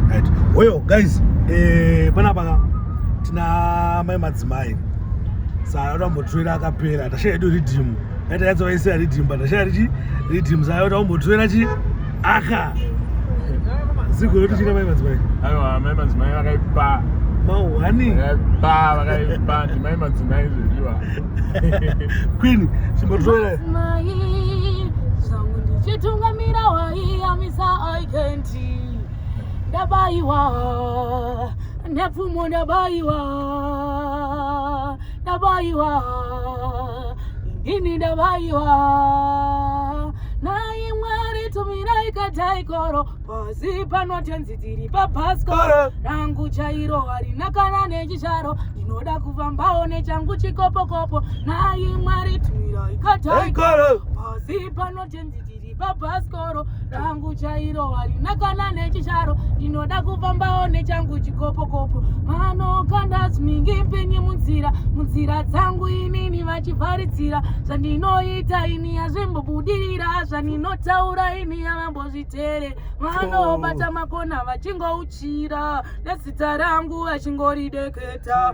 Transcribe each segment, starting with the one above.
right hoyo guys eh panapa tina mai madzimai saka tambotrera akapera tashaya edu riddim yaita yatsa vaisira riddim but tashaya richi riddim saka tambotrera chi aka ziko yoti china mai madzimai aiwa mai madzimai vakaipa mahwani vakaipa vakaipa ndimai madzimai zvediwa queen chimbotrera chitungamira waiyamisa aikenti ndabaiwa nepfumo ndabaiwa ndabaiwa ini ndabaiwa naye mwari tumirai kataikoro pasi pano tenzi dziri pabhasikoro rangu chairo harina kana nechicharo ndinoda kufambawo nechangu chikopokopo naye mwari tumirai kataikoro pasi pano tenzi bhasikoro rangu chairo harina kana nechicharo ndinoda kufambawo nechangu chikopokopo mano kandasmingi mpenyi munzira munzira dzangu inini vachivharidzira zvandinoita ini hazvimbobudirira zvandinotaura ini havambozvitere vanobata makona vachingouchira nezita rangu vachingori deketa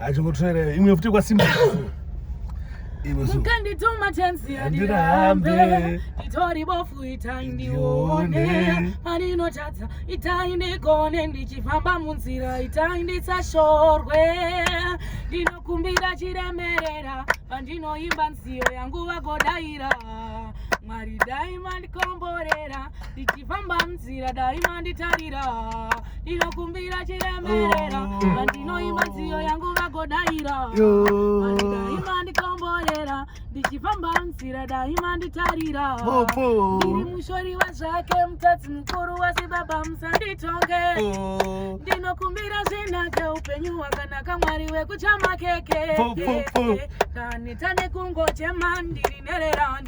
achingotwere imwe futi kwasimba mukandituma tenziya ndirambe nditori bofu itai ndione paninotadza itai ndigone ndichifamba munzira itai ndisashorwe ndinokumbira chiremerera pandinoimba nziyo yangu vagodaira mwari dai mandikomborera ndichifamba munzira dai manditarira ndinokumbira chiremerera vandinoimba oh. nziyo yangu vagodaira vandidaima ndikomborera ndichifamba nzira daima nditarira ndiri mushori wazvake mutadzi mukuru wasi baba musanditonge oh. ndinokumbira zvinake upenyu hwakanaka mwari wekuchamakeke kanita nekungochema ndiri nererani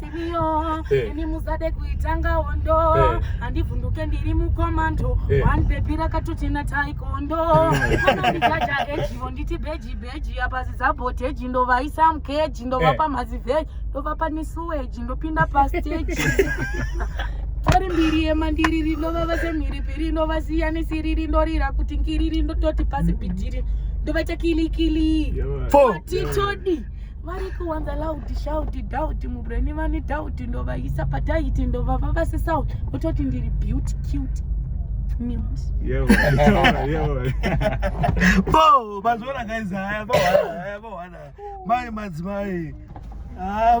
simiyo eh. ini muzade kuitanga hondo eh. handivhunduke ndiri mukomando eh. one bebi rakatoti nataikondo anondijaja ejivo nditi beji beji apa zizabhoteji ndovaisa mkeji ndovapa mazivheji ndovapa nisuweji ndopinda pasteji tori mbiri yemandiri rinova vese mhiripiri inovasiya nesiri rinorira kuti ngiriri ndototi pasi bhidhiri ndovaita kilikili titodi vari kuwanza laudi shaudi dhaudi mubreni vani dhaudi ndovaisa pataiti ndovava vasi south vototi ndiri beauty cute bo mazviona kaiza haya bohana haya bohana mai madzimai ah,